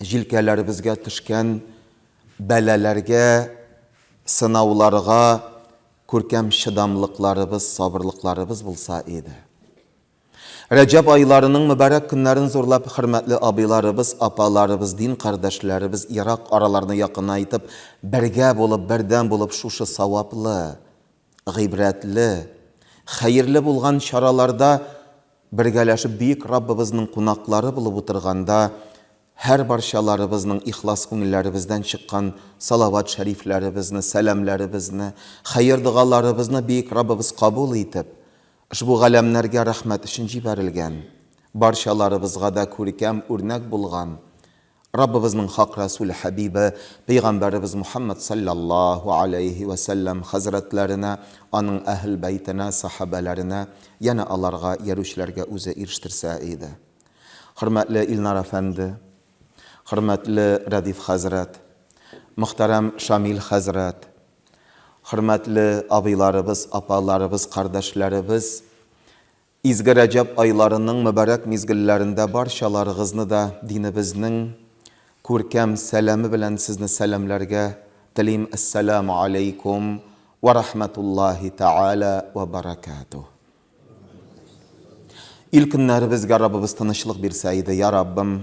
җилкәләребезгә төшкән бәлаләргә, сынауларга күркәм чыдамлыкларыбыз, сабырлыкларыбыз булса иде. Рәҗәб айларының мөбарәк көннәрен зурлап хөрмәтле абыйларыбыз, апаларыбыз, дин кардәшләребез ерак араларны якынайтып, бергә булып, бердәм булып шушы саваплы, Гыйбрәтле, хәерле булган чараларда бергәләшеп Бөек Раббыбызның кунаклары булып утырганда, һәрбарчаларыбызның ихлас күңелләребездән чыккан салават-шәрифләребезне, сәламләребезне, хәер-догаларыбызны Бөек Раббыбыз кабул итеп, ошбу галәмнәргә рәхмәт өчен җибәрелгән, барчаларыбызга да күркәм үрнәк булган Раббыбызның хак Рәсүле Хәбибе Пәйгамбәребез Мухәммәд салләллаһу галәйһи вә сәлләм хәзрәтләренә, аның Әһел бәйтенә, сәхабәләренә, янә аларга иярүчеләргә үзе ирештерсә иде. Хөрмәтле Илнар әфәнде, хөрмәтле Рәдиф хәзрәт, мөхтәрәм Шамил хәзрәт, хөрмәтле абыйларыбыз, апаларыбыз, кардәшләребез, Изге Рәҗәб айларының мөбарәк мизгелләрендә барчаларыгызны да динебезнең күркәм сәламе белән сезне сәламләргә телим, Әссәләмү аләйкүм вә рахмәтуллаһи тәгалә вә бәрәкәтүһ. Ил көннәребезгә Раббыбыз тынычлык бирсә иде, я Раббым.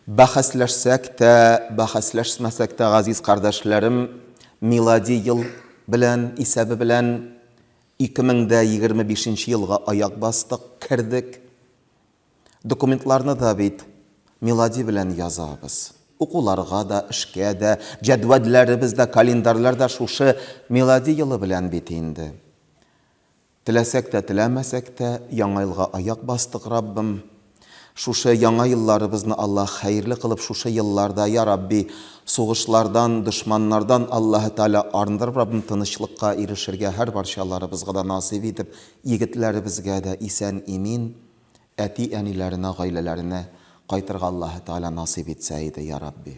Бәхәсләшсәк тә, бәхәсләшмәсәк тә, газиз кардәшләрем, милади ел белән, исәбе белән Ике мең дә егерме бишенче елга аяк бастык, кердек. Документларны да бит милади белән язабыз. Укуларга да, эшкә дә, җәдвәлләребез дә, календарьлар да шушы милади елы белән бит инде. Теләсәк тә, теләмәсәк тә, Яңа елга аяк бастык, Раббым, Шушы яңа елларыбызны Аллаһ хәерле кылып шушы елларда я Рабби сугышлардан, дошманнардан Аллаһы Тәгалә арындырып Раббым тынычлыкка ирешергә һәр барчаларыбызга да насыйп итеп егетләребезгә дә исән имин әти әниләренә гаиләләренә кайтырга Аллаһы Тәгалә насыйп итсә иде я Рабби.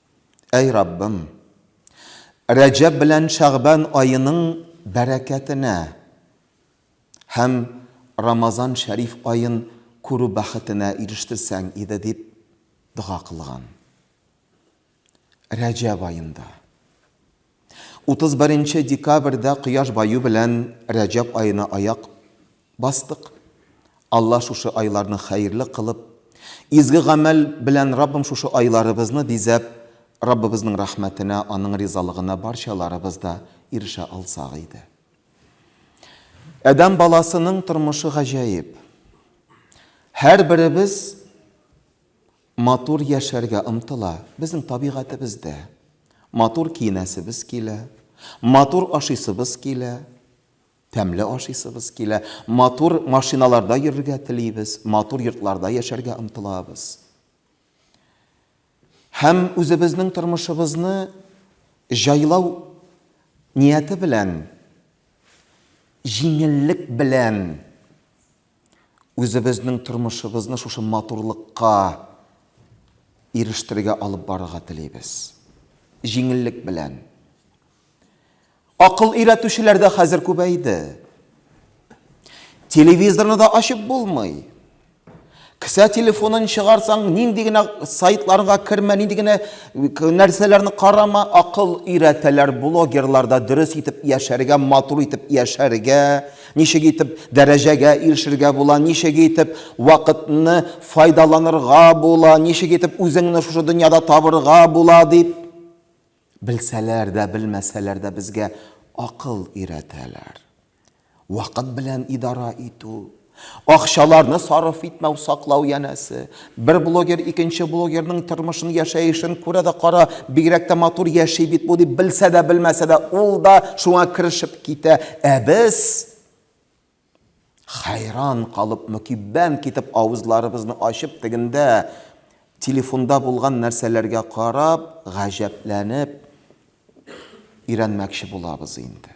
Әй Раббым! Рәҗәб белән Шәгъбан аеның бәрәкәтенә һәм Рамазан шәриф аен күрү бәхетенә ирештерсәң иде, дип дога кылган. Рәҗәб аенда. 31 нче декабрьдә кояш баю белән Рәҗәб аена аяк бастык. Алла шушы айларны хәерле кылып, изге гамәл белән Раббым шушы айларыбызны бизәп, Раббыбызның рәхмәтенә, Аның ризалыгына барчаларыбыз да ирешә алсак иде. Адәм баласының тормышы гаҗәеп. Һәрберебез Матур яшәргә омтыла. Безнең табигатебездә. Матур киенәсебез килә. Матур ашыйсыбыз килә. Тәмле ашыйсыбыз килә. Матур машиналарда йөрергә телибез. Матур йортларда яшәргә омтылабыз. Һәм үзебезнең тормышыбызны җайлау нияте белән, җиңеллек белән Үзебезнең тормышыбызны шушы матурлыкка ирештерергә алып барырга телибез. Җиңеллек белән. Акыл өйрәтүчеләр дә хәзер күбәйде. Телевизорны да ачып булмый. Кесә телефонын чыгарсаң, нинди генә сайтларга кермә, нинди генә нәрсәләрне карама, акыл өйрәтәләр блогерларда дөрес итеп яшәргә, матур итеп яшәргә, Ничек итеп дәрәҗәгә ирешергә була, ничек итеп вакытны файдаланырга була, ничек итеп үзеңне шушы дөньяда табырга була, дип белсәләр дә, белмәсәләр дә безгә акыл өйрәтәләр. Вакыт белән идара итү, акчаларны сарыф итмәү, саклау янәсе, Бер блогер икенче блогерның тормышын, яшәешен күрә дә кара, бигрәк тә матур яши бит бу, дип белсә дә, белмәсә дә, ул да шуңа керешеп китә. Ә без, хәйран калып, мөкиббән китеп, авызларыбызны ачып, тегендә, телефонда булган нәрсәләргә карап, гаҗәпләнеп, өйрәнмәкче булабыз инде.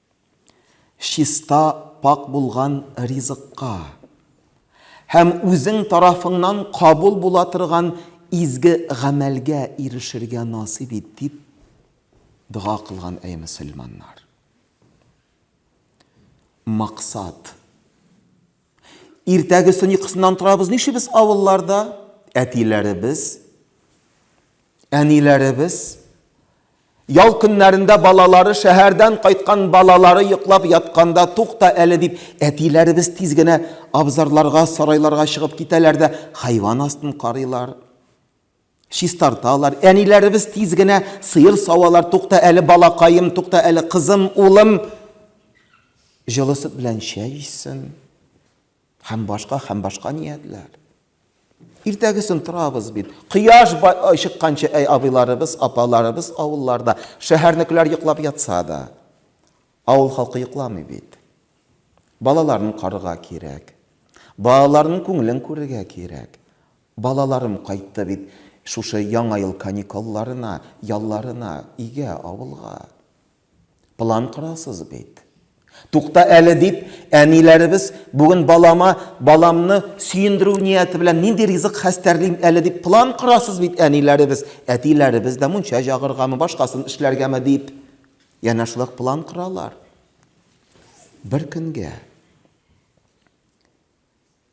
Чиста, пакь булган ризыкка һәм үзең тарафыңнан кабул була торган изге гамәлгә ирешергә насыйп ит, дип дога кылган, әй мөселманнар! Максат. Иртәгесен йокысыннан торабыз, нишибез авылларда? Әтиләребез, әниләребез, ял көннәрендә балалары шәһәрдән кайткан балалары йоклап ятканда тукта әле дип әтиләребез тиз генә абзарларга, сарайларга чыгып китәләр дә хайван астын карыйлар. Чистарталар. Әниләребез тиз генә сыер савалар, тукта әле, балакаем, тукта әле, кызым, улым, җылы сөт белән чәй эчсен, һәм башка, һәм башка ниятләр. Иртәгесен торабыз бит. Кояш чыкканчы, әй абыйларыбыз, апаларыбыз авылларда, шәһәрнекеләр йоклап ятса да, авыл халкы йокламый бит. Балаларын карга кирәк. Балаларның күңелен күрергә кирәк. Балаларым кайтты бит шушы Яңа ел каникулларына, ялларына, өйгә, авылга. План корасыз бит. Тукта әле, дип, әниләребез бүген балама, баламны сөендерү нияте белән нинди ризык хәстәрлим әле дип план корасыз бит, әниләребез, әтиләребез дә мунча җагыргамы, башкасын эшләргәме дип, янә шулай ук план коралар. Бер көнгә.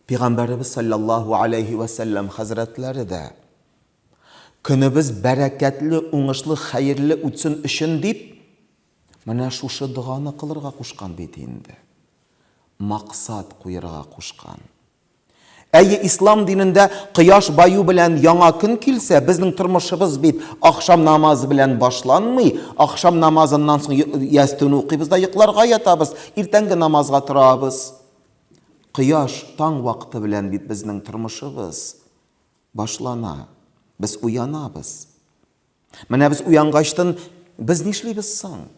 Пигамбәребез салләллаһу аләйһи вә сәлләм хәзрәтләре дә, Көнебез бәрәкәтле, уңышлы, хәерле үтсен өчен дип, менә шушы доганы кылырга кушкан бит инде. Максат куерга кушкан. Әйе, ислам динендә кояш баю белән яңа көн килсә, безнең тормышыбыз бит ахшам намазы белән башланмый. Ахшам намазыннан соң ястүне укыйбыз да йокларга ятабыз, иртәнге намазга торабыз. Кояш, таң вакыты белән бит безнең тормышыбыз башлана. Без уянабыз. Менә без уянгачтын без нишлибез соң?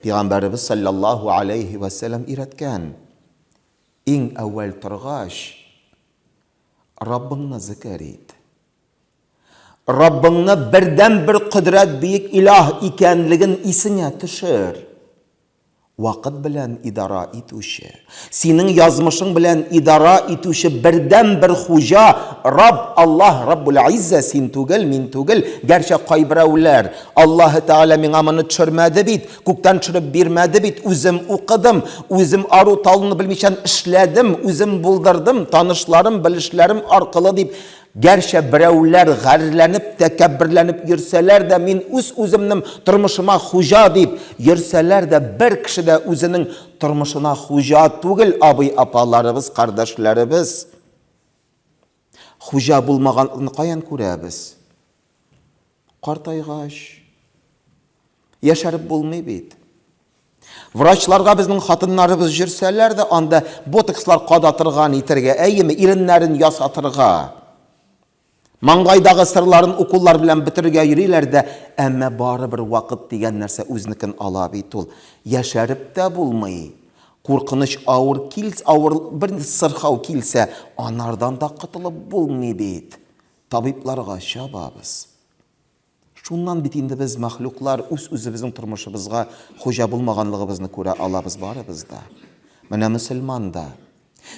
Пигамбәребез саллаллаһу алейһи вә сәлам өйрәткән. Иң әүвәл торгач, Раббыңны зикер ит. Раббыңны бердәнбер кодрәт бөек илаһ икәнлеген исеңә төшер. Вакыт белән идара итүче, синең язмышың белән идара итүче бердәнбер хуҗа, Рабб, Аллаһ, Раббул-Иззә, син түгел, мин түгел, гәрчә кайберәүләр, Аллаһы Тәгалә миңа моны төшермәде бит, күктән төшереп бирмәде бит, үзем укыдым, үзем ару-талуны белмичән эшләдем, үзем булдырдым, танышларым, белешләрем аркылы дип Гәрчә берәүләр гарьләнеп, тәкәбберләнеп йөрсәләр дә, мин үз-үземнем тормышыма хуҗа дип йөрсәләр дә, бер кеше дә үзенең тормышына хуҗа түгел, абый-апаларыбыз, кардәшләребез хуҗа булмаганлыкны каян күрәбез? Картайгач, яшәреп булмый бит. Врачларга безнең хатыннарыбыз җөрсәләр дә, анда ботокслар кадатырга, нитәргә, әйеме, иреннәрен ясатырга, маңгайдагы сырларын уколлар белән бетерергә йөриләр дә, әмма барыбер вакыт дигән нәрсә үзенекен ала бит ул. Яшәреп тә булмый. Куркыныч авыр килс, авыр бер сырхау килсә, анардан да котылып булмый бит. Табибларга чабабыз. Шуннан бит инде без, мәхлуклар, үз-үзебезнең тормышыбызга хуҗа булмаганлыгыбызны күрә алабыз барыбыз да. Менә мөселман да.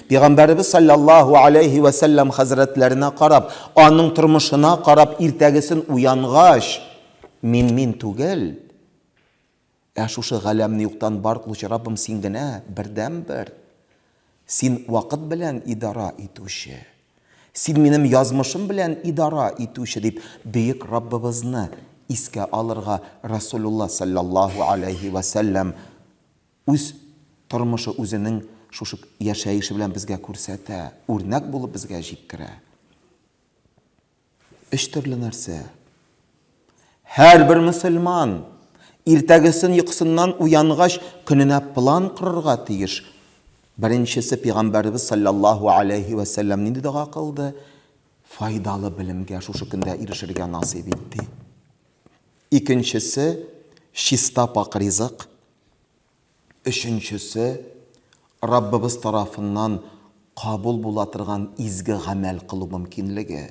Пигамбәребез салләллаһу алейһи вә сәлләм хәзрәтләренә карап, аның тормышына карап, иртәгесен уянгач, мин мин түгел, Ә шушы галәмне юктан бар кылучы Раббым Син генә, бердәнбер. Син вакыт белән идара итүче. Син минем язмышым белән идара итүче, дип, бөек Раббыбызны искә алырга Расулулла салләллаһу аләйһи вә сәлләм үз тормышы, үзенең шушы яшәеше белән безгә күрсәтә, үрнәк булып безгә җиткерә. Өч төрле нәрсә. Һәрбер мөселман иртәгесен йокысыннан уянгач, көненә план корырга тиеш. Беренчесе пигамбәребез саллаллаһу алейһи вә сәлләм нинди дога кылды? Файдалы белемгә шушы көндә ирешергә насыйп ит ди. Икенчесе чиста пак ризык. Өченчесе, Раббыбыз тарафыннан кабул була торган изге гамәл кылу мөмкинлеге.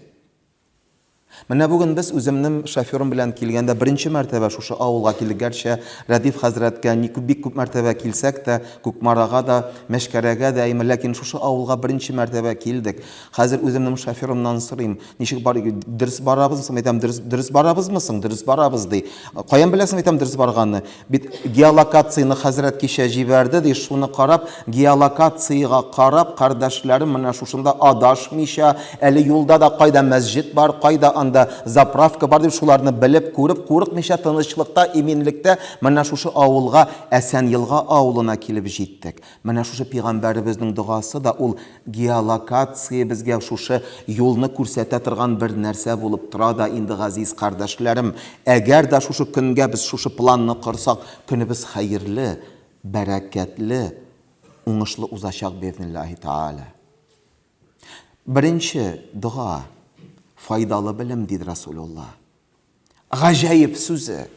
Менә бүген без үземнем шоферым белән килгәндә беренче мәртәбә шушы авылга килдек. Гәрчә Рәдиф хәзрәткә ни күп бик күп мәртәбә килсәк тә, Кукмарага да, Мәчкәрәгә дә, әйме, ләкин шушы авылга беренче мәртәбә килдек. Хәзер үземнем шоферымнан сорыйм, Ничек бар, дөрес барабыз, соң әйтәм, дөрес, дөрес барабызмы соң, дөрес барабыз, ди. Каян беләсең, әйтәм, дөрес барганны? Бит геолокацияне хәзрәт кичә җибәрде, ди, шуны карап, геолокациягә карап, кардәшләрем менә шушында адашмыйча, әле юлда да кайда мәсҗид бар, кайда анда заправка бар, дип, шуларны белеп, күреп, курыкмыйча, тынычлыкта, иминлектә менә шушы авылга, Әсәнелга авылына килеп җиттек. Менә шушы пигамбәребезнең догасы да ул геолокация безгә шушы юлны күрсәтә торган бер нәрсә булып тора да инде газиз кардәшләрем, әгәр дә шушы көнгә без шушы планны корсак көнебез хәерле, бәрәкәтле, уңышлы узачак беизниллаһи тәгалә. Беренче дога, файдалы белем диде Расулулла. Гаҗәеп сүзе.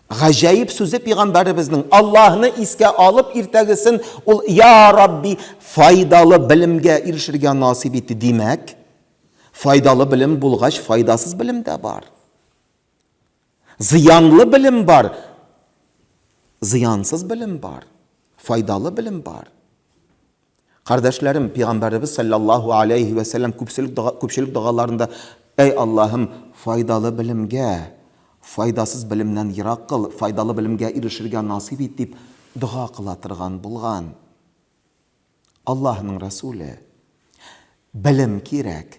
Гаҗәеп сүзе пигамбәребезнең Аллаһны искә алып иртәгесен ул я Рабби файдалы белемгә ирешергә насыйп ит димәк файдалы белем булгач файдасыз белем дә бар. Зыянлы белем бар. Зыянсыз белем бар. Файдалы белем бар. Кардәшләрем, Пигамбәребез салләллаһу аләйһи вә сәлләм күпчелек догаларында, Әй Аллаһым, файдалы белемгә, файдасыз белемнән ерак кыл, файдалы белемгә ирешергә насыйп ит, дип дога кыла торган булган. Аллаһының Рәсүле, Белем кирәк.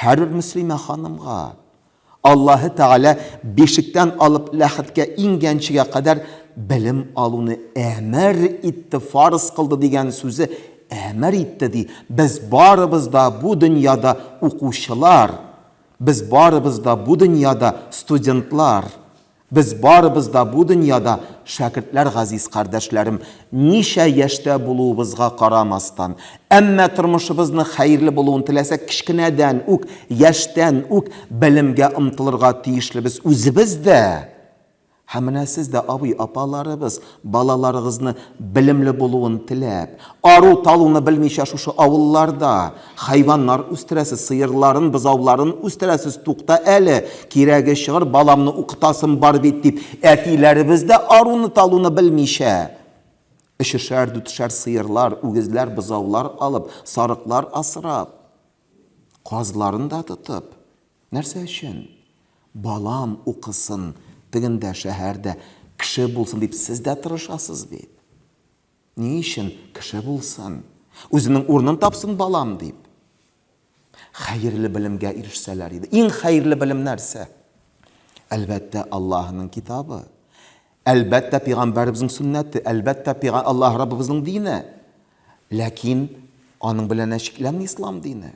Һәрбер мөслимә ханымга Аллаһы Тәгалә бишектән алып ләхеткә иңгәнчегә кадәр белем алуны әмер итте, фарыз кылды дигән сүзе әмер итте, ди. Без барыбыз да бу дөньяда укучылар, без барыбыз да бу дөньяда студентлар. Без барыбыз да бу дөньяда шәкертләр газиз кардәшләрем, ничә яшьтә булуыбызга карамастан. Әмма тормышыбызны хәерле булуын теләсәк кечкенәдән үк, яшьтән үк белемгә омтылырга тиешлебез үзебез дә һәм менә сез дә абый, апаларыбыз, Балаларыгызны белемле булуын теләп, ару-талуны белмичә шушы авылларда хайваннар үстерәсез, сыерларын, бозауларын үстерәсез, тукта әле, кирәге чыгыр, баламны укытасым бар бит, дип, әтиләребез дә аруны-талуны белмичә, өчешәр-дүтешәр сыерлар, үгезләр, бозаулар алып, сарыклар асрап, казларын да тотып, Нәрсә өчен? Балам укысын, тегендә, шәһәрдә, кеше булсын дип сез дә тырышасыз бит. Ни өчен? Кеше булсын, үзенең урынын тапсын балам дип. Хәерле белемгә ирешсәләр иде. Иң хәерле белем нәрсә? Әлбәттә, Аллаһының китабы. Әлбәттә, пигамбәребезнең сөннәте, әлбәттә, Аллаһ Раббыбызның дине. Ләкин аның белән чикләнми ислам дине.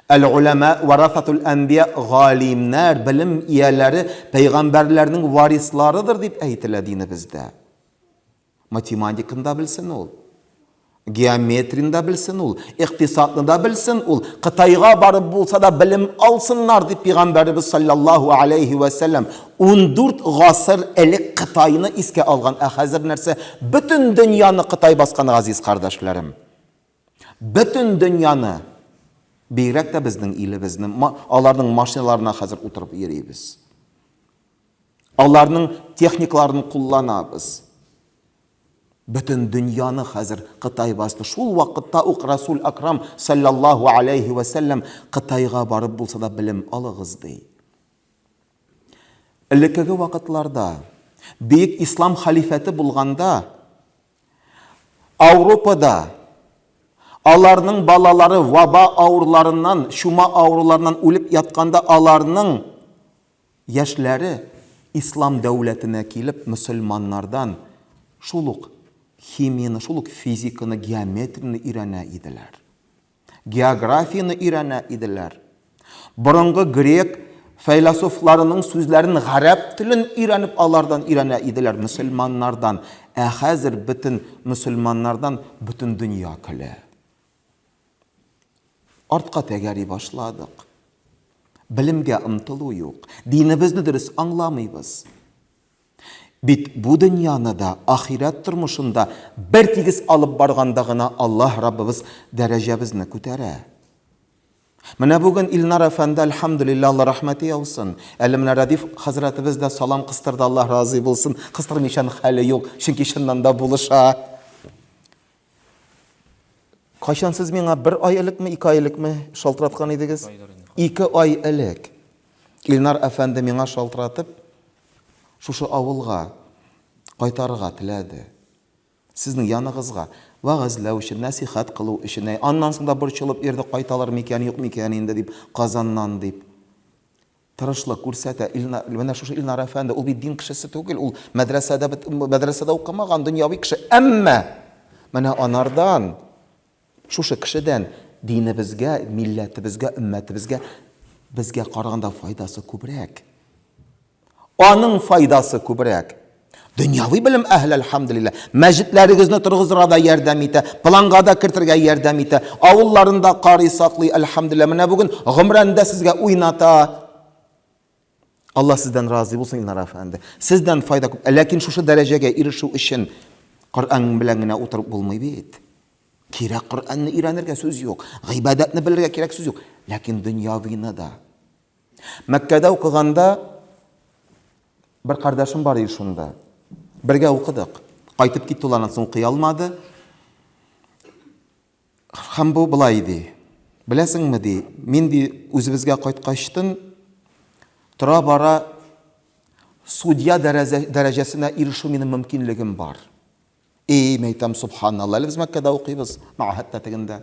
Әл-Уламәә вәрәсәтул әнбия, Галимнәр, белем ияләре пәйгамбәрләрнең варисларыдыр дип әйтелә динебездә. Математиканы да белсен ул, геометрияне дә белсен ул, икътисадны да белсен ул, Кытайга барып булса да белем алсыннар, дип пигамбәребез салләллаһу галәйһи вә сәлләм ундүрт гасыр элек Кытайны искә алган, ә хәзер нәрсә, бөтен дөньяны Кытай баскан, газиз кардәшләрем. Бөтен дөньяны, бигрәк тә безнең илебезне, аларның машиналарына хәзер утырып йөрибез. Аларның техникаларын кулланабыз. Бөтен дөньяны хәзер Кытай басты. Шул вакытта ук Расул Акрам саллаллаху алейхи вә сәлләм Кытайга барып булса да белем алыгыз ди. Элеккеге вакытларда бөек ислам халифәте булганда Ауропада аларның балалары ваба авыруларыннан, чума авыруларыннан үлеп ятканда аларның яшьләре ислам дәүләтенә килеп мөселманнардан шул ук химияне, шул ук физиканы, геометрияне өйрәнә иделәр. географияне өйрәнә иделәр. Борынгы грек фәйләсофларының сүзләрен, гарәп телен өйрәнеп алардан өйрәнә иделәр, мөселманнардан. Ә хәзер бөтен мөселманнардан бөтен дөнья көлә. Артка тәгәри башладык. Белемгә омтылу юк. Динебезне дөрес аңламыйбыз. Бит бу дөньяны да, ахирәт тормышын да бертигез алып барганда гына Аллаһ Раббыбыз дәрәҗәбезне күтәрә. Менә бүген Илнар әфәнде, әлхәмдүлилләһ, Алла рәхмәте яусын. Әле менә Рәдиф хәзрәтебез дә салам кыстырды, Аллаһ разый булсын. Кыстырмыйчан хәле юк, чөнки чыннан да булыша. Кайчан сез миңа бер ай элекме, ике ай элекме шалтыраткан идегез? Ике ай элек. Илнар әфәнде миңа шалтыратып, шушы авылга кайтарырга теләде. Сезнең яныгызга вәгазьләү өчен, нәсихәт кылу өчен. Аннан соң да борчылып йөрде, кайталар микән, юк микән инде дип, Казаннан дип. Тырышлык күрсәтә Илнар. Менә шушы Илнар әфәнде, ул бит дин кешесе түгел, ул мәдрәсәдә бит, мәдрәсәдә укымаган, дөньяви кеше. Әмма менә анардан, шушы кешедән динебезгә, милләтебезгә, өммәтебезгә, безгә караганда файдасы күбрәк. Аның файдасы күбрәк. Дөньяви белем әһле, әлхәмдулилла, мәҗитләрегезне торгызырга да ярдәм итә, планга да кертергә ярдәм итә. Авылларында карый саклый, әлхәмдулилла. Менә бүген гомрәндә сезгә уйната. Алла сездән разый булсын, Илнар әфәнде. Сездән файда күп. Ләкин шушы дәрәҗәгә ирешү өчен Коръән белән генә утырып булмый бит. Кирәк Коръәнне өйрәнергә сүз юк. Гыйбадәтне белергә кирәк сүз юк. Ләкин дөньявыны да Мәккәдә укыганда бер кардәшем бар иде шунда. Бергә укыдык. Кайтып китте ул аннан соң укый алмады. Һәм бу былай ди. Беләсеңме ди, мин ди үзебезгә кайткачтын тора бара судья дәрәҗәсенә ирешү минем мөмкинлегем бар. Эй, мәйтәм, субханалла, әле без Мәккәдә укыйбыз, мәгәһәттә тегендә.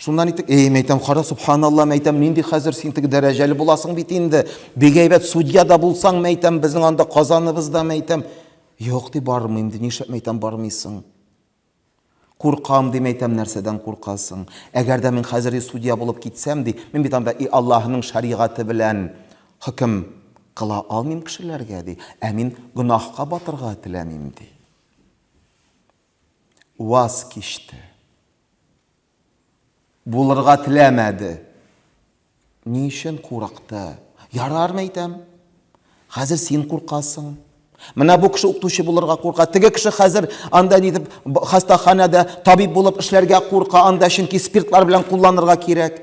Шуннан итек, эй, мәйтәм, кара, субханалла, мәйтәм, нинди хәзер син теге дәрәҗәле буласың бит инде. Бик әйбәт судья да булсаң, мәйтәм, безнең анда Казаныбызда, мәйтәм. Юк, ди, бармыйм, ди, нишләп, мәйтәм, бармыйсың? Куркам, ди, мәйтәм, нәрсәдән куркасың? Әгәр дә мин хәзер и судья булып китсәм, ди, мин бит анда и Аллаһның шәригате белән Хөкем кыла алмыйм кешеләргә, ди, ә мин гөнаһка батырга теләмим, ди. Ваз кичте. Булырга теләмәде. Ни өчен курыкты? Ярармы әйтәм? Хәзер син куркасың. Менә бу кеше укытучы булырга курка. Теге кеше хәзер анда нидеп хастаханәдә табиб булып эшләргә курка, анда чөнки спиртлар белән кулланырга кирәк.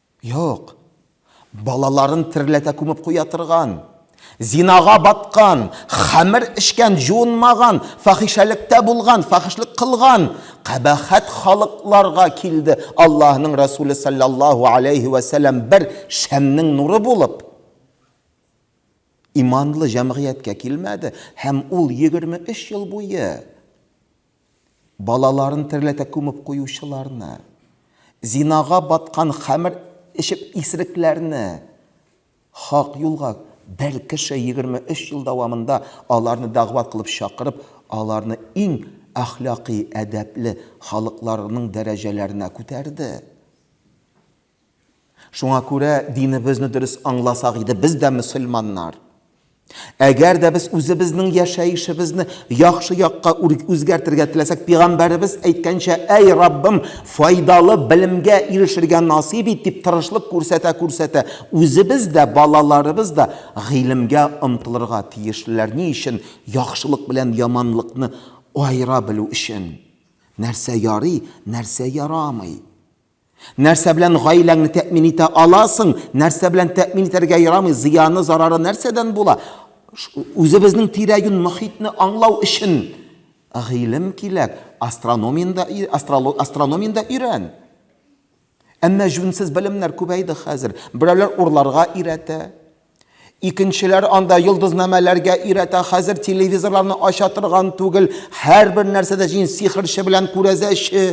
Юк. Балаларын терләтә күмеп куя торган, зинага баткан, хәмер эчкән, җуынмаган, фахишәлектә булган, фахишлек кылган кабахәт халыкларга килде Аллаһының Рәсүле салләллаһу аләйһи вә сәлам бер шәмнең нуры булып, иманлы җәмгыятькә килмәде һәм ул егерме өч ел буе Балаларын терләтә күмеп куючыларны, зинага баткан хәмер эчеп исерекләрне хак юлга, бер кеше 23 ел дәвамында аларны дәгъват кылып чакырып, аларны иң әхлакый, әдәпле халыкларның дәрәҗәләренә күтәрде. Шуңа күрә динебезне дөрес аңласак иде, без дә мөселманнар. Әгәр дә без үзебезнең яшәешебезне яхшы якка үзгәртергә теләсәк, пигамбәребез әйткәнчә, әй Раббым, файдалы белемгә ирешергә насыйп ит, дип тырышлык күрсәтә-күрсәтә, үзебез дә, балаларыбыз да гыйлемгә омтылырга тиешлеләр. Ни өчен? Яхшылык белән яманлыкны аера белү өчен. Нәрсә ярый, нәрсә ярамый. Нәрсә белән гаиләңне тәэмин итә аласың, нәрсә белән тәэмин итәргә ярамый, зыяны, зарары нәрсәдән була? Үзебезнең тирә-юнь мохитне аңлау өчен гыйлем кирәк. Астрономиядә астрономиядә өйрән. Әмма җүнсез белемнәр күбәйде хәзер. Берәүләр урларга өйрәтә, Икенчеләр анда йолдызнамәләргә өйрәтә, хәзер телевизорларны ача торган түгел, һәрбер нәрсәдә җин сихерче белән күрәзәче.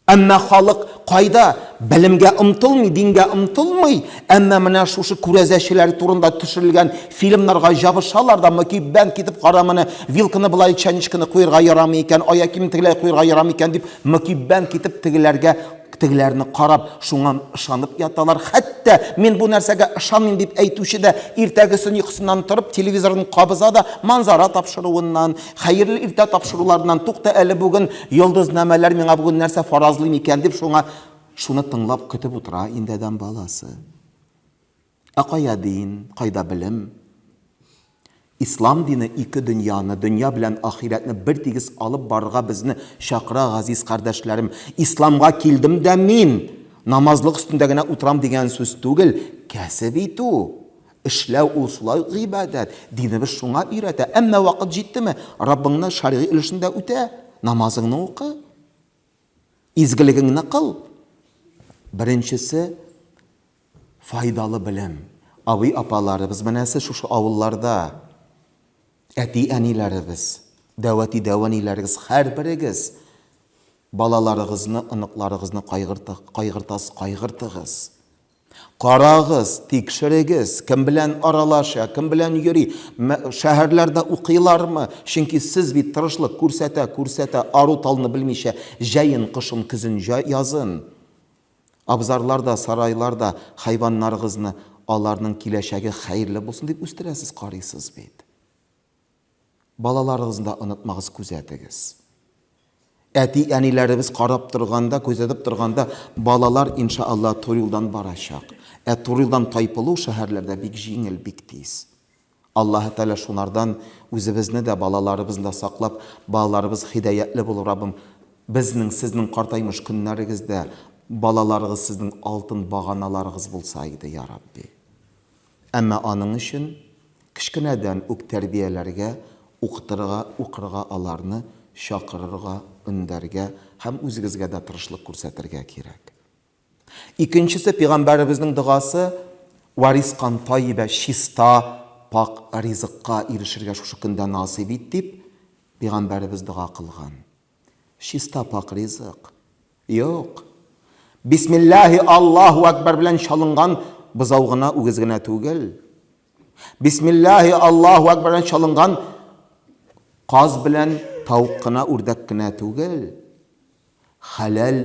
Әмма халык кайда? Белемгә омтылмый, дингә омтылмый, әмма менә шушы күрәзәчеләр турында төшерелгән фильмнарга ябышалар да, мөкиббән китеп кара моны, вилканы болай чәнечкене куерга ярамый икән, аякиемне тегеләй куерга ярамый икән дип, мөкиббән китеп тегеләргә Тегеләрне карап, шуңа ышанып яталар. Хәтта, мин бу нәрсәгә ышанмыйм, дип әйтүче дә иртәгесен йокысыннан торып, телевизорын кабыза да, манзара тапшыруыннан, хәерле иртә тапшыруларыннан, тукта әле, бүген йолдызнамәләр миңа бүген нәрсә фаразлый микән, дип, шуңа шуны тыңлап, көтеп утыра инде адәм баласы. Ә кая дин, кайда белем? Ислам дине ике дөньяны, дөнья белән ахирәтне бертигез алып барырга безне чакыра, газиз кардәшләрем. Исламга килдем дә мин намазлык өстендә генә утырам дигән сүз түгел, кәсеп итү, эшләү ул шулай ук гыйбадәт. Динебез шуңа өйрәтә. Әмма вакыт җиттеме, Раббыңны шәргый өлешен дә үтә, намазыңны укы, изгелегеңне кыл. Беренчесе, Файдалы белем. Абый-апаларыбыз, менә сез шушы авылларда, әти-әниләребез, дәүәти-дәваниләрегез, һәрберегез балаларыгызны, оныкларыгызны кайгыртасыз, кайгыртыгыз. Карагыз, тикшерегез, кем белән аралаша, кем белән йөри, шәһәрләрдә укыйлармы? Чөнки сез бит тырышлык күрсәтә, күрсәтә, ару-талны белмичә, җәен, кышын, көзен, язын. Абзарлар да, сарайлар да хайваннарыгызны аларның киләчәге хәерле булсын дип үстерәсез, карыйсыз бит. Балаларыгызны да онытмагыз, күзәтегез. Әти-әниләребез карап торганда, күзәтеп торганда, балалар, иншаалла, туры юлдан барачак. Ә туры юлдан тайпылу шәһәрләрдә бик җиңел, бик тиз. Аллаһы Тәгалә шунардан үзебезне дә, балаларыбызны да саклап, балаларыбыз хидәятле булып Раббым Безнең, сезнең картаймыш көннәрегездә балаларыгыз сезнең алтын баганаларыгыз булса иде, я Рабби. Әмма аның өчен кечкенәдән үк тәрбияләргә, укытырга, укырга аларны, чакырырга, өндәргә һәм үзегезгә дә тырышлык күрсәтергә кирәк. Икенчесе пигамбәребезнең догасы, Вә ризкан тайибә, чиста, пакь ризыкка ирешергә шушы көндә насыйп ит, дип, пигамбәребез дога кылган. Чиста, пакь ризык? Юк. Бисмиллаһи Аллаһу әкбәр белән чалынган бозау гына, үгез генә түгел. Бисмиллаһи Аллаһу әкбәр белән чалынган каз белән тавык кына, үрдәк кенә түгел. Хәләл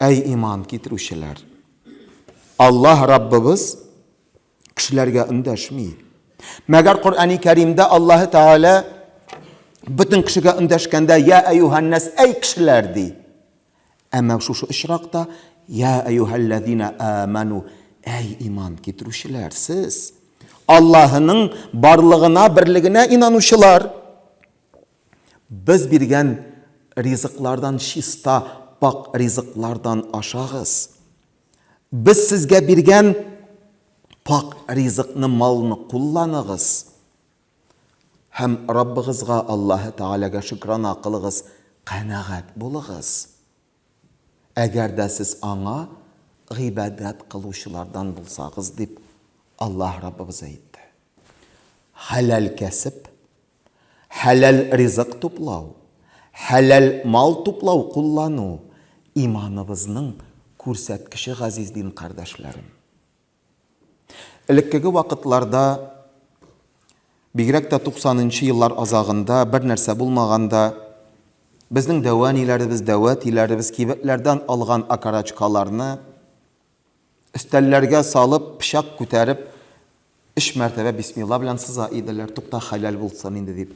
Әй иман китерүчеләр! Аллаһ Раббыбыз кешеләргә өндәшми. Мәгәр Коръәни Кәримдә Аллаһы Тәгалә бөтен кешегә өндәшкәндә я әйюһаннәс әй кешеләр ди. Әмма шушы очракта я әйюһәлләзина аману әй иман китерүчеләр сез Аллаһының барлыгына, берлегенә инанучылар. Без биргән ризыклардан чиста, пакь ризыклардан ашагыз. Без сезгә биргән пакь ризыкны, малны кулланыгыз һәм Раббыгызга, Аллаһы Тәгаләгә шөкранә кылыгыз, канәгать булыгыз, әгәр дә сез Аңа гыйбадәт кылучылардан булсагыз, дип Аллаһ Раббыбыз әйтте. Хәләл кәсеп, хәләл ризык туплау, хәләл мал туплау, куллану, иманыбызның күрсәткече газиз дин кардәшләрем. Элеккеге вакытларда, бигрәк тә 90 нчы еллар азагында, бер нәрсә булмаганда, безнең дәвә ниләребез, дәвә тиләребез кибетләрдән алган акарачкаларны, Өстәлләргә салып, пычак күтәреп, өч мәртәбә бисмилла белән сыза иделәр, тукта, хәләл булсын инде дип.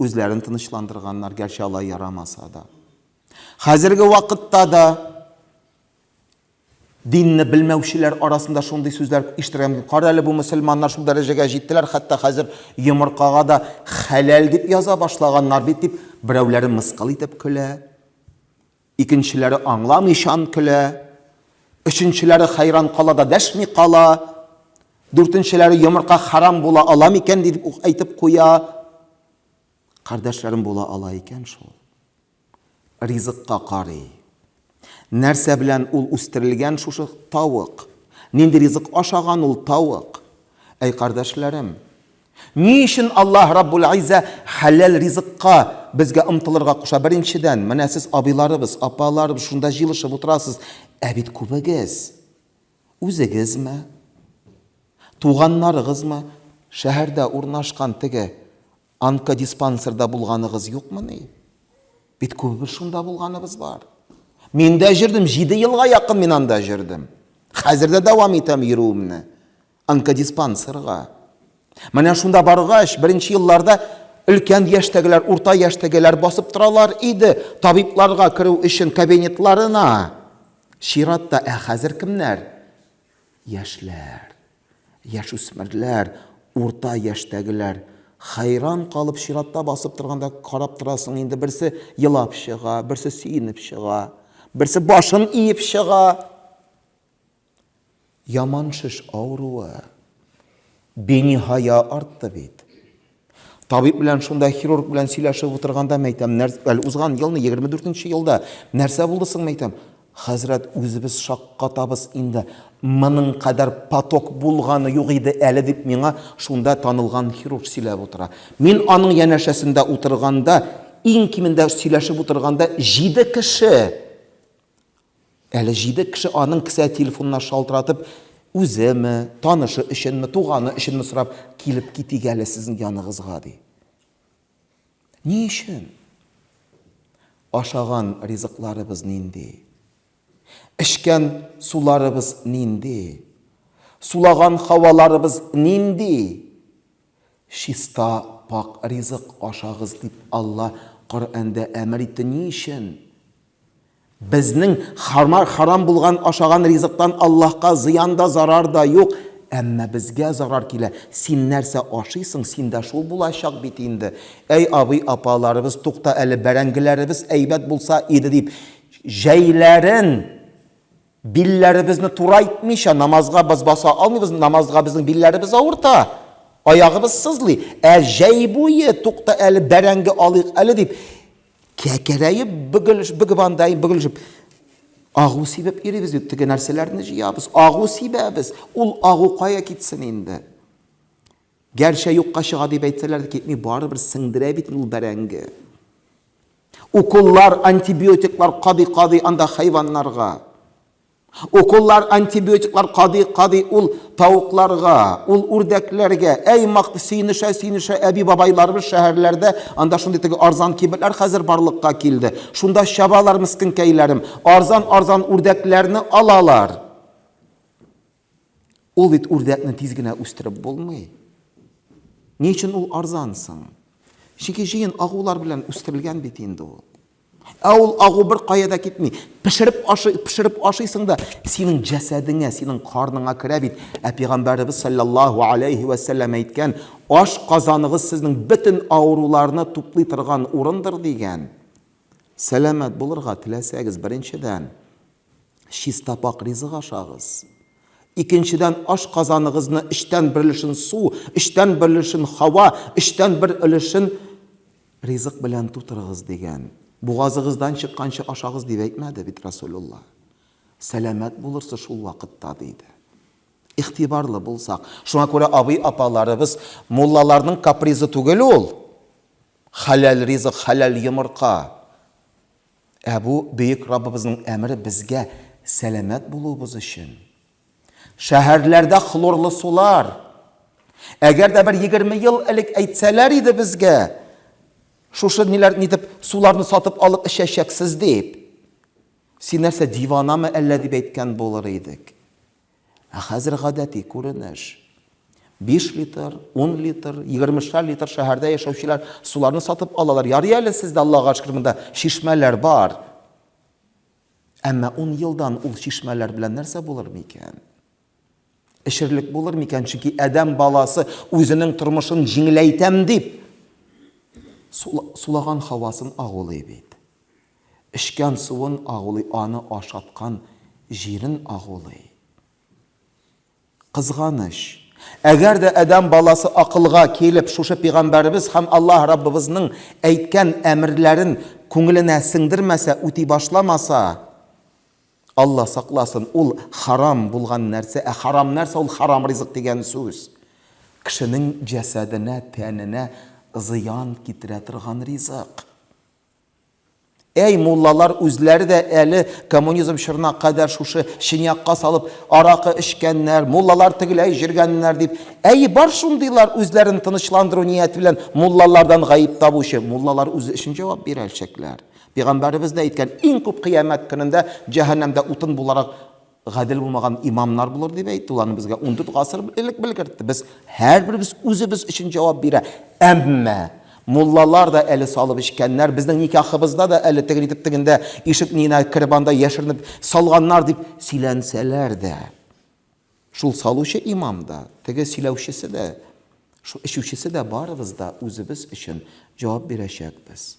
Үзләрен тынычландырганнар, гәрчә алай ярамаса да. Хәзерге вакытта да динне белмәүчеләр арасында шундый сүзләр ишетергә мөмкин. Кара әле, бу мөселманнар шул дәрәҗәгә җиттеләр, хәтта хәзер йомыркага да хәләл дип яза башлаганнар бит, дип берәүләре мыскыл итеп көлә. Икенчеләре аңламыйчан көлә, өченчеләре хәйран кала да дәшми кала, дүртенчеләре йомырка хәрам була ала микән дип үк әйтеп куя. Кардәшләрем була ала икән шул. Ризыкка карый. Нәрсә белән ул үстерелгән шушы тавык? Нинди ризык ашаган ул тавык? Әй, кардәшләрем, Ни өчен Аллаһ Раббул-Иззә хәләл ризыкка безгә омтылырга куша? Беренчедән, менә сез абыйларыбыз, апаларыбыз шунда җыелышып утырасыз, ә бит күбегез, үзегезме, туганнарыгызмы, шәһәрдә урнашкан теге онкодиспансерда булганыгыз юкмыни? Бит күбебез шунда булганыбыз бар. Мин дә җөрдем, җиде елга якын мин анда җөрдем. Хәзер дә дәвам итәм йөрүемне. Онкодиспансерга. Менә шунда баргач, беренче елларда өлкән яшьтәгеләр, урта яшьтәгеләр басып торалар иде, табибларга керү өчен кабинетларына. Чиратта, ә хәзер кемнәр? Яшьләр, яшүсмерләр, урта яшьтәгеләр. Хәйран калып чиратта басып торганда карап торасың, инде берсе елап чыга, берсе сөенеп чыга, берсе башын иеп чыга. Яман шеш авыруы. Биниһая артты бит. Табиб белән шунда хирург белән сөйләшеп утырганда мәйтәм, әле узган елны 24 нче елда нәрсә булды соң мәйтәм? Хәзрәт, үзебез шаккатабыз инде. Моның кадәр поток булганы юк иде әле, дип миңа шунда танылган хирург сөйләп утыра. Мин аның янәшәсендә утырганда, иң кимендә сөйләшеп утырганда җиде кеше! Әле җиде кеше аның кесә телефонына шалтыратып, үземе, танышы өченме, туганы өченме сорап, килеп китик әле сезнең яныгызга, ди. Ни өчен? Ашаган ризыкларыбыз нинди? Эчкән суларыбыз нинди? Сулаган һаваларыбыз нинди? Чиста, пакь ризык ашагыз дип Алла Коръәндә әмер итте, ни өчен? Безнең хамар харам булган ашаган ризыктан Аллаһка зыян да, зарар да юк, әмма безгә зарар килә. Син нәрсә ашыйсың, синдә шул булачак бит инде. Әй абый, апаларыбыз, тукта әле, бәрәңгеләребез әйбәт булса иде дип, җәйләрен, Билләребезне турайтмыйча намазга без баса алмыйбыз, намазга безнең билләребез авырта, аягыбыз сызлый. Ә җәй буе, тукта әле, бәрәңге алыйк әле дип, кәкерәеп бөгелеш, бөгеп андайын бөгелешеп, агу сибеп йөрибез бит, теге нәрсәләрне җыябыз, агу сибәбез. Ул агу кая китсен инде? Гәрчә юкка чыга дип әйтсәләр дә китми, барыбер сеңдерә бит ул бәрәңге. Уколлар, антибиотиклар кадый кадый анда хайваннарга. Уколлар, антибиотиклар кадый кадый ул тавыкларга, ул үрдәкләргә. Әй мак сөенешә сөенешә әби бабайларыбыз шәһәрләрдә анда шундый теге арзан кибетләр хәзер барлыкка килде. Шунда чабалар мескенкәйләрем, арзан арзан үрдәкләрне алалар. Ул бит үрдәкне тиз генә үстереп булмый. Ни өчен ул арзан соң? Чөнки җыен агулар белән үстерелгән бит инде ул. Ә ул агу бер кая да китми. Пешереп ашый, пешереп ашыйсың да, синең җәсәдеңә, синең карныңа керә бит. Ә пәйгамбәребез саллаллаһу алейһи вә сәлләм әйткән, аш казаныгыз сезнең бөтен авыруларны туплый торган урындыр дигән. Сәламәт булырга теләсәгез, беренчедән, Чистапак ризык ашагыз. Икенчедән, ашказаныгызны өчтән бер өлешен су, өчтән бер өлешен һава, өчтән бер өлешен ризык белән тутырыгыз, дигән. Бугазыгыздан чыкканчы ашагыз, дип әйтмәде бит Расулулла. Сәламәт булырсыз шул вакытта, диде. Игътибарлы булсак. Шуңа күрә абый-апаларыбыз, муллаларның капризы түгел ул. Хәләл ризык, хәләл йомырка. Ә бу Бөек Раббыбызның әмере безгә сәламәт булуыбыз өчен. Шәһәрләрдә хлорлы сулар! Әгәр дә бер егерме ел элек әйтсәләр иде безгә, шушы ниләр нитеп суларны сатып алып эчәчәксез дип, син нәрсә, диванамы әллә дип әйткән булыр идек. Ә хәзер гадәти күренеш. Биш литр, ун литр, егермешәр литр шәһәрдә яшәүчеләр суларны сатып алалар. Ярый әле сездә, Аллага шөкер, монда чишмәләр бар. Әмма ун елдан ул чишмәләр белән нәрсә булыр микән? Эчерлек булыр микән? Чөнки адәм баласы үзенең тормышын җиңеләйтәм дип сулаган хавасын агулый бит. Эчкән суын агулый, аны ашаткан җирен агулый. Кызганыч, әгәр дә адәм баласы акылга килеп, шушы пигамбәребез һәм Аллаһ Раббыбызның әйткән әмерләрен күңеленә сеңдермәсә, үти башламаса, Алла сакласын, ул харам булган нәрсә, ә харам нәрсә ул харам ризык дигән сүз? Кешенең җәсәденә, тәненә зыян китерә торган ризык. Әй, муллалар үзләре дә әле коммунизм чорына кадәр шушы чынякка салып аракы эчкәннәр, муллалар тегеләй җөргәннәр дип. Әйе, бар шундыйлар, үзләрен тынычландыру нияте белән муллалардан гаеп табучы. Муллалар үзе өчен җавап бирәлчәкләр. Пигамбәребез дә әйткән, иң күп кыямәт көнендә җәһәннәмдә утын буларак гадел булмаган имамнар булыр дип әйтте, ул аны безгә 14 гасыр элек белгертте. Без һәрберебез үзебез өчен җавап бирә. Әмма муллалар да әле салып эчкәннәр, безнең никахыбызда да әле тегел итеп тегендә ишек нигенә кереп анда яшеренеп салганнар дип сөйләнсәләр дә. Шул салучы имам да, теге сөйләүчесе дә, шул эчүчесе дә барыбыз да үзебез өчен җавап бирәчәкбез.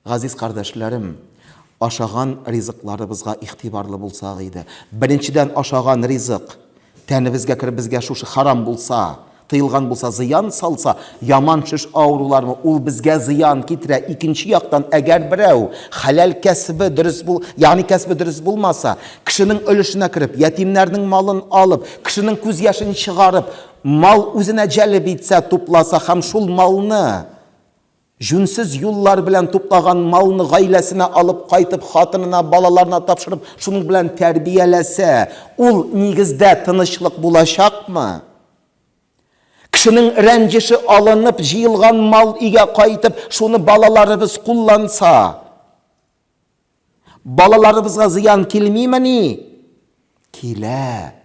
Газиз кардәшләрем, ашаган ризыкларыбызга игътибарлы булсак иде. Беренчедән, ашаган ризык тәнебезгә кереп, безгә шушы харам булса, тыелган булса, зыян салса, яман шеш авырулармы, ул безгә зыян китерә. Икенче яктан, әгәр берәү хәләл кәсебе дөрес бул, ягъни кәсебе дөрес булмаса, кешенең өлешенә кереп, ятимнәрнең малын алып, кешенең күз яшен чыгарып, мал үзенә җәлеп итсә, тупласа һәм шул малны, Җүнсез юллар белән туплаган малны гаиләсенә алып кайтып, хатынына, балаларына тапшырып, шуның белән тәрбияләсә, ул, нигездә, тынычлык булачакмы? Кешенең рәнҗеше алынып, җыелган мал өйгә кайтып, шуны балаларыбыз кулланса. Балаларыбызга зыян килмимени? Килә.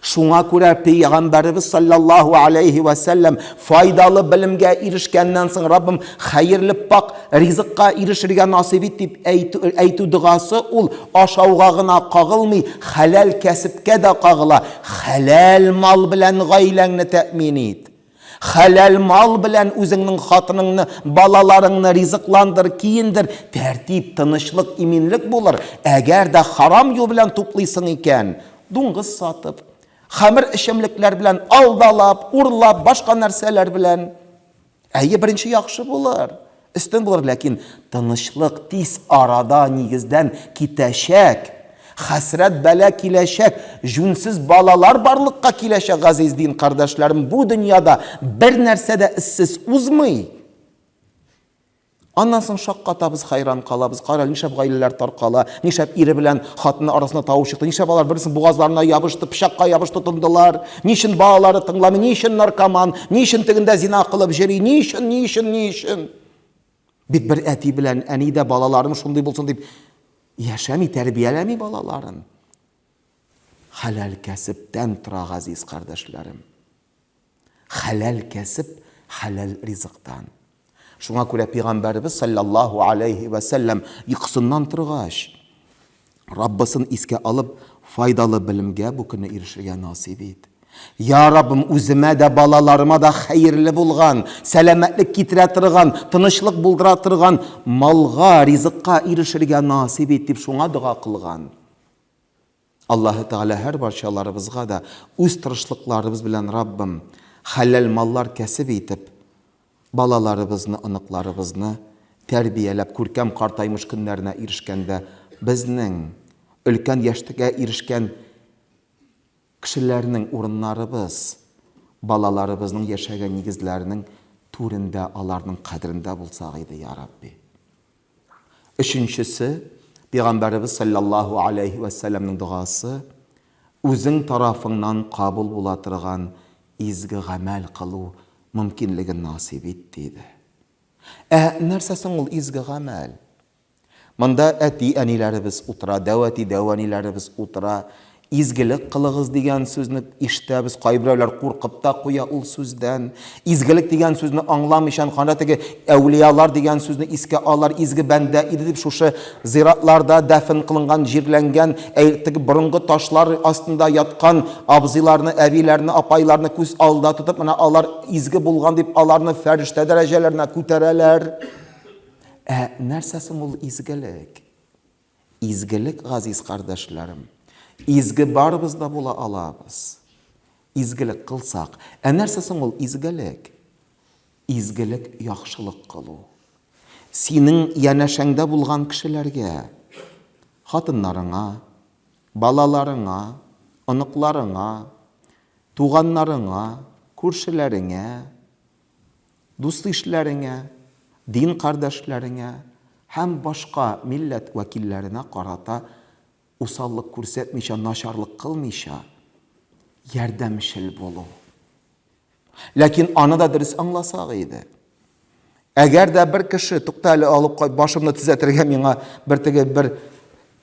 Шуңа күрә Пәйгамбәребез саллаллаһу алейһи вә сәлләм файдалы белемгә ирешкәннән соң Раббым хәерле пакь ризыкка ирешергә насыйп ит дип әйтү догасы ул ашауга гына кагылмый, хәләл кәсепкә дә кагыла. Хәләл мал белән гаиләңне тәэмин ит. Хәләл мал белән үзеңнең хатыныңны, балаларыңны ризыкландыр, киендер, тәртип, тынычлык, иминлек булыр. Әгәр дә харам юл белән туплыйсың икән, дуңгыз сатып, хәмер эчемлекләр белән алдалап, урлап, башка нәрсәләр белән, әйе, беренче яхшы булыр. Өстен булыр, ләкин тынычлык тиз арада нигездән китәчәк, хәсрәт бәла киләчәк, җүнсез балалар барлыкка киләчәк, газиз дин кардәшләрем, бу дөньяда бер нәрсә дә эзсез узмый. Аннан соң шаккатабыз, хәйран калабыз, карале, нишләп гаиләләр таркала, нишләп ире белән хатыны арасында тавыш чыкты, нишләп алар берсен бугазларына ябышты, пычакка ябышты тындылар, Ни өчен балалары тыңламый, ни өчен наркоман, ни өчен тегендә зина кылып җөри, ни өчен, ни өчен, ни өчен? Бит бер әти белән әни дә балаларым шундый булсын дип яшәми, тәрбияләми балаларын. Хәләл кәсептән тора, газиз кардәшләрем. Хәләл кәсеп, хәләл ризыктан. Шуңа күрә пигамбәребез салләллаһу аләйһи вә сәлләм йокысыннан торгач, Раббысын искә алып, файдалы белемгә бу көнне ирешергә насыйп ит. Я Раббым, үземә дә, балаларыма да хәерле булган, сәламәтлек китерә торган, тынычлык булдыра торган малга, ризыкка ирешергә насыйп ит, дип шуңа дога кылган. Аллаһы Тәгалә һәрбарчаларыбызга да үз тырышлыкларыбыз белән Раббым хәләл маллар кәсеп итеп, балаларыбызны, оныкларыбызны тәрбияләп, күркәм картаймыш көннәренә ирешкәндә, безнең, өлкән яшьтгә ирешкән кешеләрнең урыннарыбыз, балаларыбызның яшәгән нигезләренең түрендә, аларның кадерендә булсак иде, Йа Рабби! Өченчесе, Пәйгамбәребез салләллаһу аләйһи вә сәлләмнең догасы, үзең тарафыңнан кабул була торган изге гамәл кылу мөмкинлеген насыйп ит, диде. Ә нәрсә соң ул изге гамәл? Монда әти-әниләребез утыра, дәү әти-дәү әниләребез утыра, Изгелек кылыгыз дигән сүзне ишетәбез, кайберәүләр куркып та куя ул сүздән. Изгелек дигән сүзне аңламыйчан гана теге әүлиялар дигән сүзне искә алалар, изге бәндә иде дип шушы зиратларда дәфен кылынган, җирләнгән, теге борынгы ташлар астында яткан абзыйларны, әбиләрне, апайларны күз алдында тотып, менә алар изге булган дип аларны фәрештә дәрәҗәләренә күтәрәләр. Ә нәрсә соң ул изгелек? Изгелек газиз кардәшләрем. Изге барыбыз да була алабыз. Изгелек кылсак. Ә нәрсә соң ул изгелек? Изгелек яхшылык кылу. Синең янәшәңдә булган кешеләргә, хатыннарыңа, балаларыңа, оныкларыңа, туганнарыңа, күршеләреңә, Дус-ишләреңә, дин кардәшләреңә һәм башка милләт вәкилләренә карата усаллык күрсәтмичә, начарлык кылмыйча, ярдәмчел булу. Ләкин аны да дөрес аңласак иде. Әгәр дә бер кеше, тукта әле, алып кайт, башымны төзәтергә миңа бер теге бер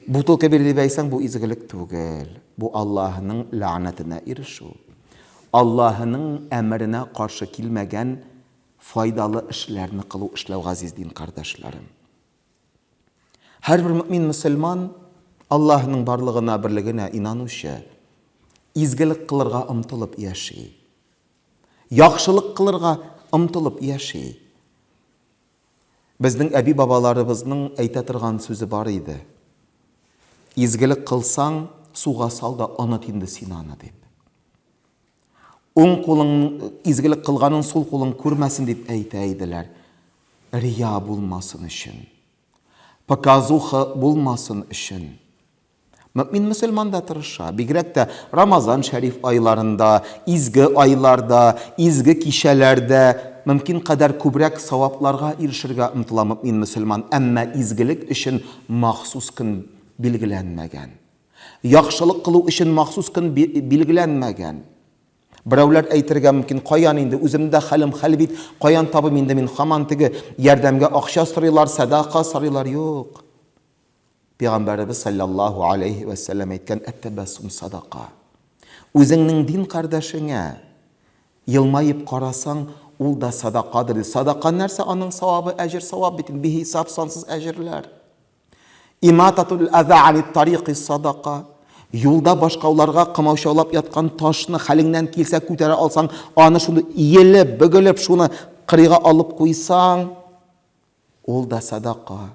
Бутылка бирде дисәң, бу изгелек түгел. Бу Аллаһының ләгънәтенә ирешү. Аллаһының әмеренә каршы килмәгән файдалы эшләрне кылу эшләү газиз дин кардәшләрем. Һәрбер мөмин мөселман Аллаһының барлыгына, берлегенә инанучы, изгелек кылырга омтылып яши. Яхшылык кылырга омтылып яши. Безнең әби-бабаларыбызның әйтә торган сүзе бар иде, Изгелек кылсаң, суга сал да оныт инде син аны, дип. Уң кулың изгелек кылганын сул кулың күрмәсен дип әйтә иделәр. Рия булмасын өчен. Показуха булмасын өчен. Мөэмин мөселман да тырыша, бигрәк тә Рамазан шәриф айларында, изге айларда, изге кичәләрдә мөмкин кадәр күбрәк савапларга ирешергә омтыла мөэмин мөселман, әмма изгелек өчен махсус көн билгеләнмәгән. Яхшылык кылу өчен махсус көн билгеләнмәгән. Берәүләр әйтергә мөмкин, каян инде, үземдә хәлем хәл бит, каян табыйм инде мин, хаман теге ярдәмгә акча сорыйлар, сәдака сорыйлар, юк. Пәйгамбәребез салләллаһу алейһи вә сәлләм әйткән, әт-тәбәссум садака. Үзеңнең дин кардәшеңә елмаеп карасаң, ул да садакадыр. Садака нәрсә? Аның савабы, әҗер савап бит, бихисап сансыз әҗерләр. Имататул аза ани тарикы садака. Юлда башкауларга кымаучаулап яткан ташны хәлеңнән килсә күтәрә алсаң, аны шуны иелеп, бөгелеп, шуны кырыйга алып куйсаң, ул да садака.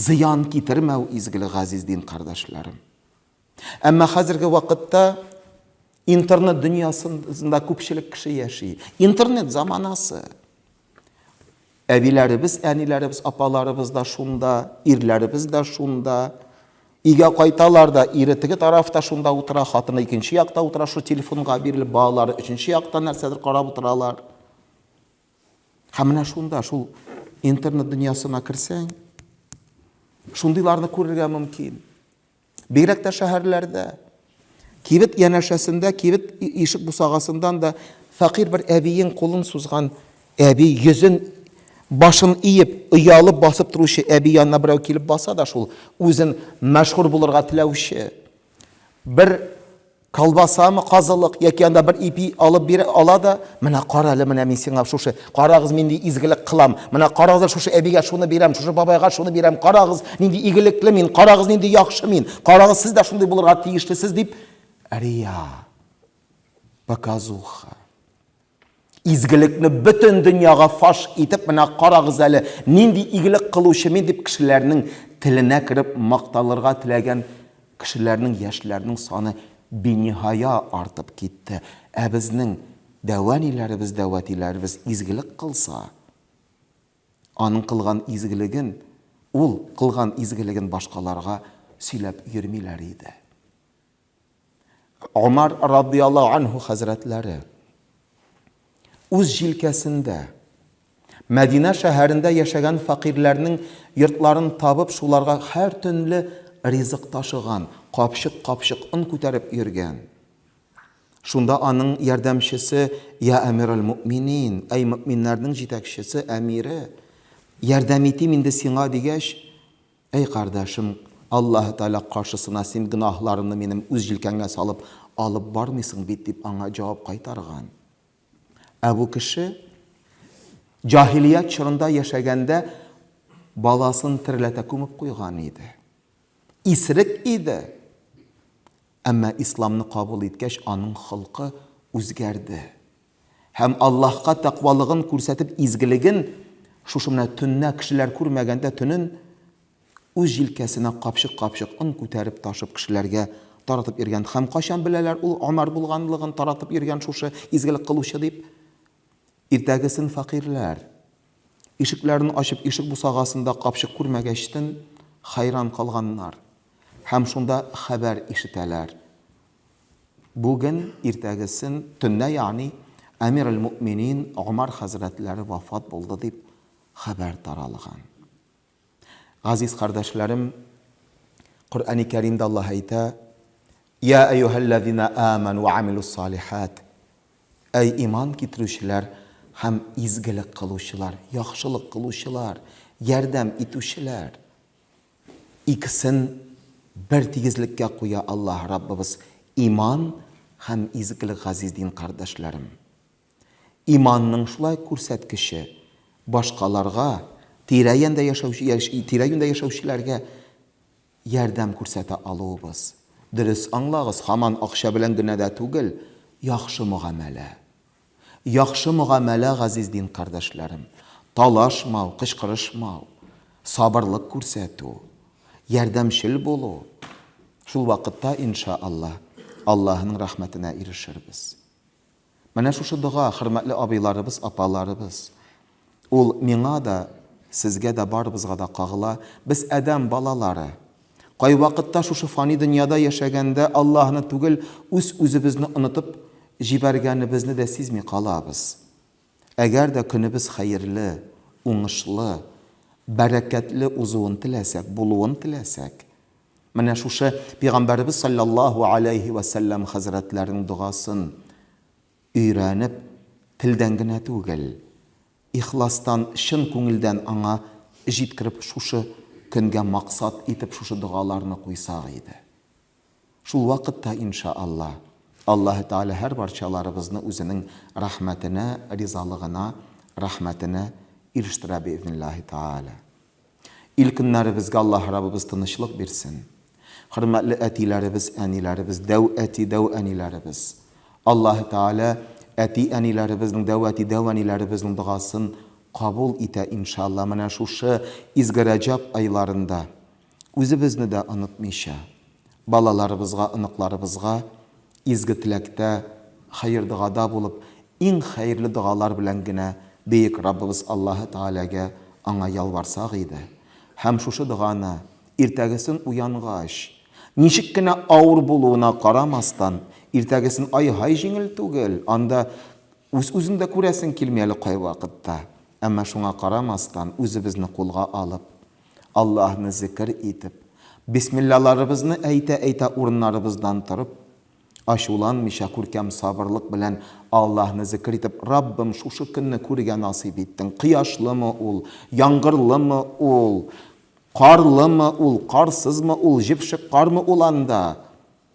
Зыян китермәү изгелек, газиз дин кардәшләрем. Әмма хәзерге вакытта интернет дөньясында күпчелек кеше яши. Интернет заманасы. Әбиләребез, әниләребез, апаларыбыз да шунда, ирләребез дә шунда. Өйгә кайталар да, ире теге тарафта шунда утыра, хатыны икенче якта утыра, шул телефонга бирелеп, балалары өченче яктан нәрсәдер карап утыралар. Һәм менә шунда, шул интернет дөньясына керсәң, шундыйларны күрергә мөмкин. Бигрәк тә шәһәрләрдә. Кибет янәшәсендә, кибет ишек бусагасыннан да фәкыйрь бер әбиең кулын сузган әби йөзен башын иеп, оялып басып торучы әби янына берәү килеп баса да шул, үзен мәшһүр булырга теләүче, Бер колбасамы, казылык яки анда бер ипи алып бирә ала да, менә кара әле, менә мин сиңа шушы, карагыз, мин нинди изгелек кылам, менә карагыз, шушы әбигә шуны бирәм, шушы бабайга шуны бирәм, карагыз, нинди игелекле мин, карагыз, нинди яхшы мин, карагыз, сез дә шундый булырга тиешлесез, дип рия, показуха. Изгелекне бөтен дөньяга фаш итеп, менә карагыз әле, нинди игелек кылучымин дип кешеләрнең теленә кереп макталырга теләгән кешеләрнең, яшьләрнең саны биниһая артып китте. Ә безнең дәүәниләребез, дәүәтиләребез изгелек кылса, аның кылган изгелеген, ул кылган изгелеген башкаларга сөйләп йөрмиләр иде. Омар радияллаһу анһу хәзрәтләре үз җилкәсендә Мәдинә шәһәрендә яшәгән факирләрнең йортларын табып, шуларга һәр төнле ризык ташыган, капчык-капчык он күтәреп йөргән. Шунда аның ярдәмчесе Я әмирәл мөминин, әй мөминнәрнең җитәкчесе, әмире, ярдәм итим инде сиңа дигәч, Әй кардәшем, Аллаһы Тәгалә каршысына син гөнаһларымны минем үз җилкәңә салып алып бармыйсың бит, дип аңа җавап кайтарган. Ә бу кеше җаһилият чорында яшәгәндә баласын тереләтә күмеп куйган иде. Исерек иде. Әмма исламны кабул иткәч, аның холкы үзгәрде. Һәм Аллаһка тәкъвалыгын күрсәтеп, изгелеген, шушы менә төннә, кешеләр күрмәгәндә төнен, үз җилкәсенә капчык-капчык он күтәреп ташып кешеләргә таратып йөргән. Һәм кайчан беләләр ул Омар булганлыгын, таратып йөргән шушы изгелек кылучы дип? Иртәгесен фәкыйрьләр. Ишекләрен ачып ишек бусагасында капчык күрмәгәчтен хәйран калганнар һәм шунда хәбәр ишетәләр, Бүген иртәгесен төнлә ягъни Әмир әл-Мөэминин Гомәр хәзрәтләре вафат булды дип хәбәр таралган. Газиз кардәшләрем, Коръәни Кәримдә Аллаһ әйтә, Йә әйюһәлләзина амән вә амилус салихәт. Әй иман китерүчеләр һәм изгелек кылучылар, яхшылык кылучылар, ярдәм итүчеләр. Икесен бер тигезлеккә куя Аллаһ Раббыбыз, иман һәм изгелек, газиз дин кардәшләрем. Иманның шулай күрсәткече, башкаларга, тирә-янда яшәүче, тирә-юньдә яшәүчеләргә ярдәм күрсәтә алуыбыз. Дөрес аңлагыз, һаман акча белән генә дә түгел, яхшы мөгамәлә. Яхшы мөгамәлә, газиз дин кардәшләрем, талашмау, кычкырышмау, сабырлык күрсәтү, ярдәмчел булу, шул вакытта, иншаАллаһ, Аллаһының рәхмәтенә ирешербез. Менә шушы дога, хөрмәтле абыйларыбыз, апаларыбыз. Ул миңа да, сезгә дә, барыбызга да кагыла. Без адәм балалары. Кайвакытта шушы фани дөньяда яшәгәндә Аллаһны түгел, үз-үзебезне онытып җибәргәнебезне дә сизми калабыз. Әгәр дә көнебез хәерле, уңышлы, бәрәкәтле узуын теләсәк, булуын теләсәк, Менә шушы Пигамбәребез салләллаһу аләйһи вә сәлләм хәзрәтләренең догасын өйрәнеп, телдән генә түгел, ихластан, чын күңелдән аңа җиткереп шушы көнгә максат итеп шушы догаларны куйсак иде. Шул вакытта, инша Алла, Аллаһы Тәгалә һәрбарчаларыбызны үзенең рәхмәтенә, ризалыгына, рәхмәтенә ирештерә биизниллаһи тәгалә. Ил көннәребезгә Аллаһ Раббыбыз тынычлык бирсен. Хөрмәтле әтиләребез, әниләребез, дәү әти, дәү әниләребез. Аллаһ Тәгалә әти, әниләребезнең, дәү әти, дәү әниләребезнең догасын кабул итә, иншалла, менә шушы изге Рәҗәб айларында, үзебезне дә онытмыйча. Балаларыбызга, оныкларыбызга изге теләктә, хәер-догада булып, иң хәерле догалар белән генә Бөек Раббыбыз Аллаһы Тәгаләгә, Аңа ялварсак иде! Һәм шушы доганы, иртәгесен уянгач, ничек кенә авыр булуына карамастан, иртәгесен ай-һай җиңел түгел, анда үз-үзең дә күрәсең килми әле кайвакытта, әмма шуңа карамастан, үзебезне кулга алып, Аллаһны зекер итеп, бисмиллаларыбызны әйтә-әйтә урыннарыбыздан торып, ачуланмыйча, күркәм сабырлык белән Аллаһны зекер итеп, Раббым, шушы көнне күрергә насыйп иттең, кояшлымы ул, яңгырлымы ул, карлымы ул, карсызмы ул, җепшек кармы ул анда,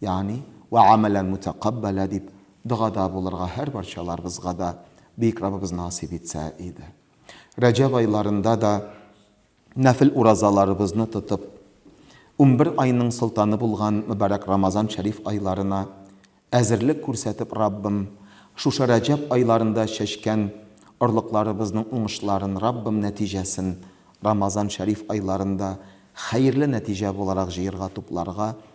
Ягъни, Вә гамәлән мутәкаббәлә дип догада булырга һәрбарчаларыбызга да Бөек Раббыбыз насыйп итсә иде. Рәҗәб айларында да нәфел уразаларыбызны тотып, унбер айның солтаны булган мөбарәк Рамазан шәриф айларына әзерлек күрсәтеп Раббым, шушы Рәҗәб айларында чәчкән орлыкларыбызның уңышларын Раббым нәтиҗәсен Рамазан шәриф айларында хәерле нәтиҗә буларак җыерга-тупларга